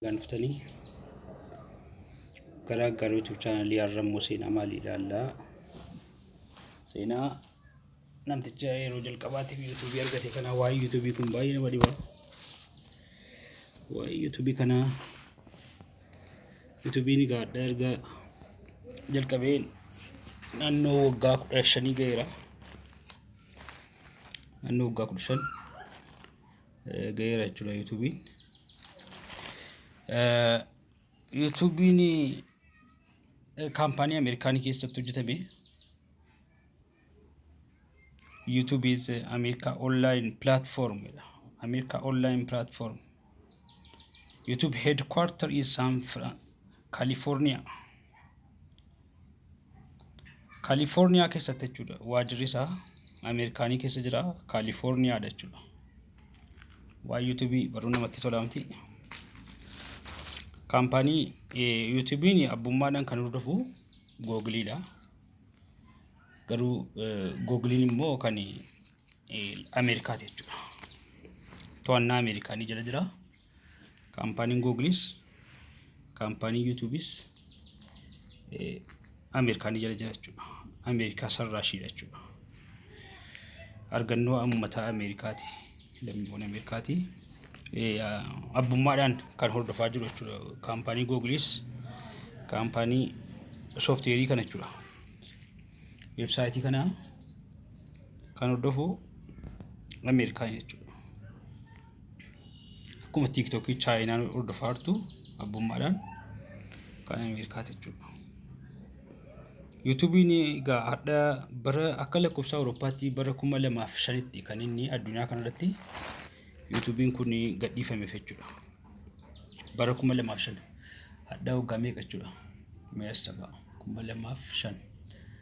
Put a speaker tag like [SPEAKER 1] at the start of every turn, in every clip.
[SPEAKER 1] Nagaan dhuftanii gara gara YouTube chaanalii Arrammoo Seenaa maalii ilaallaa? Seenaa namticha yeroo jalqabaatiif YouTube argate kana waa'ee YouTube kun baay'ee nama dhiba. Waa'ee YouTube kana YouTube ni gaadha erga jalqabee naannoo waggaa kudha shanii ga'eera. Naannoo waggaa kudha shan. ga'eera jechuudha yuutuubiin. Yuutuubiin kaampaanii Ameerikaanii keessatti hojjetame. YouTube is America online platform. America online platform. YouTube headquarter is San Fran California. Kaalifoorniyaa keessatti jechuudha. Waajirri isaa Ameerikaanii keessa jira. Kaalifoorniyaadha jechuudha. Waa yuutuubii baruu namatti tola miti. Kaampaanii yuutuubiin abbummaadhaan kan hordofu googiliidha. Garuu googiliin immoo kan Ameerikaati jechuudha. To'annaa Ameerikaanii jala jira. kaampaaniin Googlis kaampaanii yuutuubis Ameerikaanii jala jira jechuudha. Ameerikaa sarraashiidha jechuudha. Argannoo uummataa Ameerikaati. Lammiiwwan Ameerikaati. Abbummaadhaan kan hordofaa jiru jechuudha. Kaampaanii Googilis kaampaanii sooftiweerii kana jechuudha. Weebsaayitii kana kan hordofu Ameerikaa jechuudha. akkuma tiiktookii chaayinaan hordofaa jirtu abbummaadhaan kan ameerikaa jechuudha. Yuutuubiin egaa hadha bara akka lakkoofsa Awurooppaatti bara kuma lamaaf shanitti kan inni addunyaa kanarratti yuutuubiin kun gadhiifame jechuudha. Bara kuma lamaaf shan hadha waggaa meeqa jechuudha? Meeshaa kuma lamaaf shan.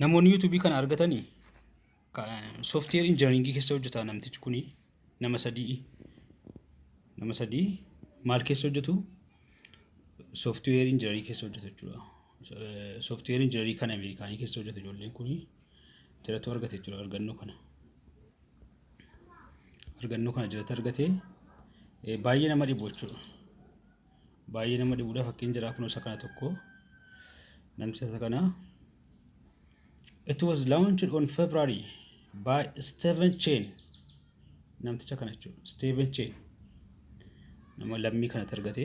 [SPEAKER 1] Namoonni YouTube kana argatani software engineering keessa hojjeta namtichi kuni nama sadii nama sadii maal keessa hojjetu software engineering keessa hojjeta jechuudha. Eh, Software engineering kan Ameerikaanii keessa hojjeta ijoolleen kuni jiratu argate jechuudha argannoo kana. Argannoo kana jiratu argate eh, baay'ee nama dhibu jechuudha. baay'ee nama dhibudha fakkiin jira kun isa kana tokko namticha isa kana it was launched on February by Steven Chen namticha kana jechuudha Steven Chen nama lammii kana argate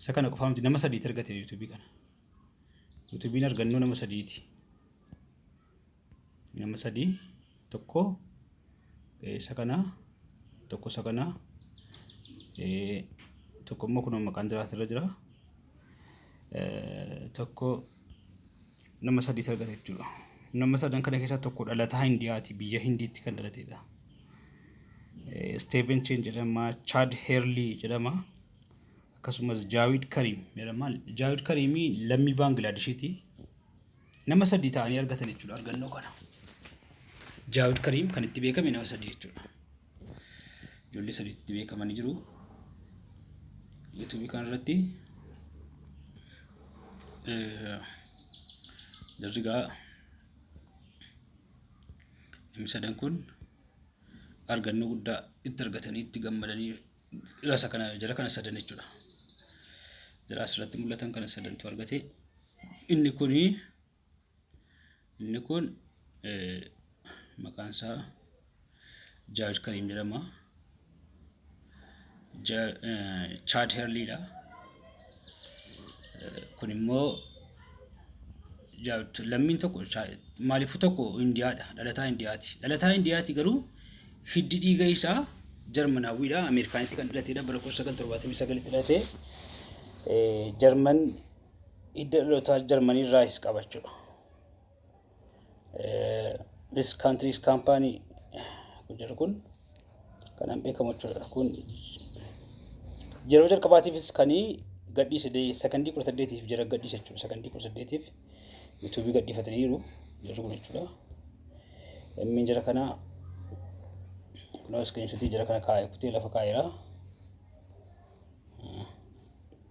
[SPEAKER 1] isa kana qofaa miti nama sadiiti argate yuutuubii kana yuutuubiin argannoo nama sadiiti nama sadii tokko eh, isa kana tokko isa kana eh, tokko immoo kunoo maqaan jiraatu irra jira Eh, tokko nama sadii argate jechuudha nama sadan kana keessaa tokko dhalataa hindiyaati biyya hindiitti kan dhalateedha Eh, Steven Chen jedhama Chad Herley jedhama akkasumas Jaawid Kariim jedhama Jaawid Kariimii lammii Baanglaadeshiiti Nama sadii ta'anii argatan jechuudha argannoo kana. Jaawid Kariim kan itti beekame nama sadii jechuudha. Ijoollee sadii itti beekamanii jiru. Yuutuubii kanarratti jarri gaa namni sadan kun argannoo guddaa itti argatanii itti gammadanii jara kana sadan jechuudha. Jara asirratti mul'atan kana sadantu argate. inni kun inni kun maqaan isaa jaaj kariim jedhama chaad herliidha kun immoo lammiin tokko maalifu tokko indiyaadha dhalataa indiyaati dhalataa indiyaati garuu hiddi dhiiga isaa jarmanaawwiidha ameerikaanitti kan dhalatedha bara 1979tti dhalatee jarman Hidda dhalootaa Jarmanii irraahis qaba jechuudha. This country's company kun jedhu kun kanaan beekamu jechuudha. Kun yeroo jalqabaatiifis kan gadhiise sekondii kudha saddeetiif jara gadhiise jechuudha. Sekondii kudha saddeetiif yuutuubii gadhiifataniiru jarri kun jechuudha. Lammiin jara kanaa kunoo iskiriinshotii jara kana kaa'e kutee lafa kaa'eera.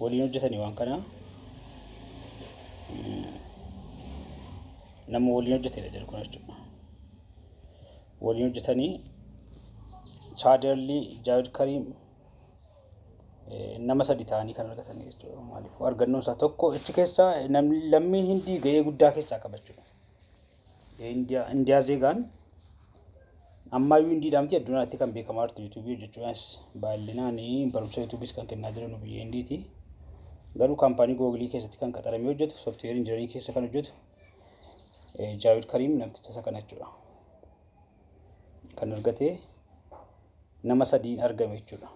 [SPEAKER 1] waliin hojjetani waan kana nama waliin hojjetedha jedhu kun jechuudha. Waliin hojjetanii chaadarlii Jaawid Kariim nama sadi ta'anii kan argatan jechuudha. Maaliif argannoon isaa tokko achi keessaa lammiin hindii ga'ee guddaa keessaa qaba jechuudha. Indiyaa Zeegaan ammayyuu indiidhaa miti addunyaatti kan beekamaa jirtu yuutuubii hojjechuudhaanis baay'inaan barumsa yuutuubiis kan kennaa jiran biyya indiiti. Garuu kaampaanii googilii keessatti kan qaxaramee hojjetu sooftiweer injinariin keessa kan hojjetu Jaawid Kariim namticha isa kana jechuudha. Kan argate nama sadiin argame jechuudha.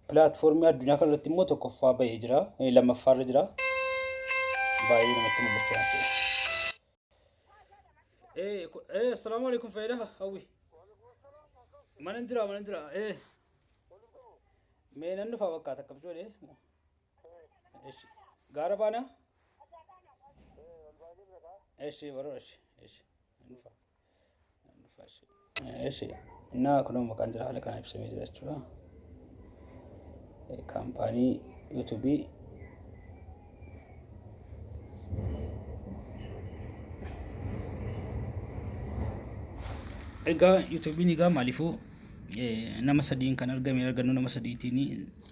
[SPEAKER 1] Pilaatfoormii addunyaa kana irratti immoo tokkoffaa bahee jira. Eh, Lammaffaa irra jira. Baay'ee namatti mul'achaa jira. Eh, ku- eh, assalaamu alaikum fayyada hawwi. Mana hin jira, mana hin jira. Eh, mee nan dhufaa bakka takka bijoole. Eshi, gaara baana? Eshi, baroo eshi, eshi, nan dhufaa. Eshi innaa kunoo maqaan jira haala kanaan ibsamee jira jechuudha. Kaampaanii yuutuubii Egaa yuutuubiin egaa maaliifuu nama sadiin kan argame argannoo nama sadiitiin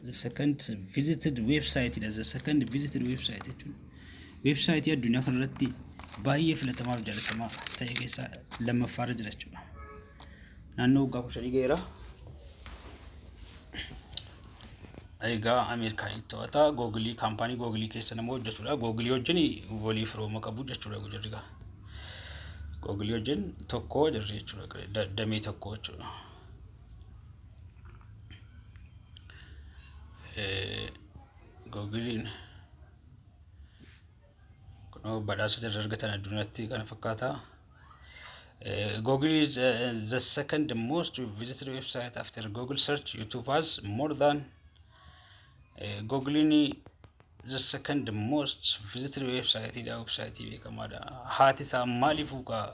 [SPEAKER 1] the second visited website dha the second visited website jechuudha. Weebsaayitii addunyaa kanarratti baay'ee filatamaa fi jaalatamaa ta'e keessaa lammaffaa irra jira jechuudha. Naannoo waggaa kudha shanii ga'eera. Egaa Ameerikaanii to'ata googilii kaampaanii googilii keessa nama hojjetudha. Googilii wajjin walii firooma qabu jechuudha jarri gaa. Googilii wajjin tokko jarri jechuudha da- damee tokko jechuudha. Eh, Googiliin Kunoo badhaasa irra argatan addunyaatti kana fakkaata. Eh, Google is eh, the second most visited website after Google search. YouTube has more than eh, Google ni the second most visited website dha website beekamaadha. Haati isaa maaliif ukaa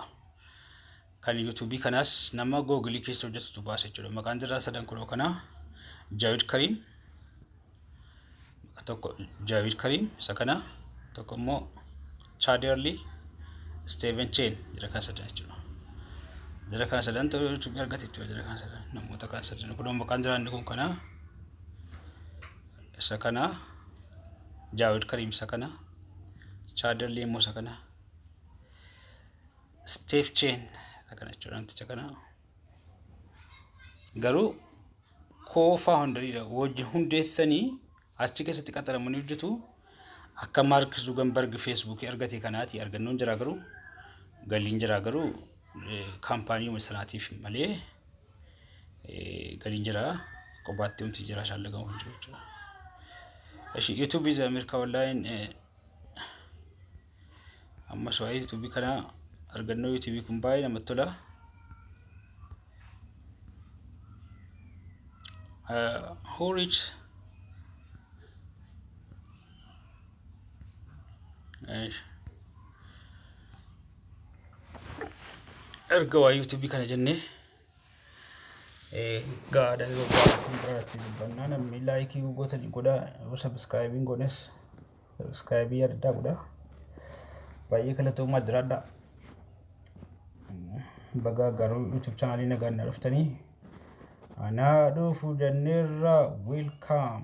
[SPEAKER 1] kan YouTube kanas nama Google keessa hojjetutu baasa jechuudha. Maqaan jirraa sadan kunoo kana Jaawid Kariim. tokko Jaavid Kariim isa kana tokko immoo Chaaderli Steven Cheen jira kan sadan jechuudha. Jira kan sadan ta'uu jechuudha argate jechuudha jira kan sadan namoota kan sadan kun immoo kan jiraanne kun kana isa kana Jaavid Kariim isa kana Chaaderli immoo isa kana Steven Cheen isa kana jechuudha namticha kana. garuu koofaa hundariidha wajji hundeessanii achi keessatti qaxaramanii hojjetu akka maark zuganbarg feesbuukii argate kanaati argannoon jiraa garuu galiin jiraa garuu kaampaanii sanaatiif malee galiin jiraa qobaatti humti jiraa shaallagamu hin jiru jechuudha. Eshi YouTube is America online Ammas waa'ee yuutuubii kana argannoo yuutuubii kun baay'ee namatti tola. Uh, who reached erga waa yuutuubii kana jennee gaada yoo gaafatan irratti dubbannaa namni laayikii gootani godha yoo sabiskaayibiin goones sabiskaayibii addaa godha baay'ee galatoomaa jiraadha bagaa garuu yuutuub chaanaalii nagaan na dhuftanii anaa dhufu jenneerra wiilkaam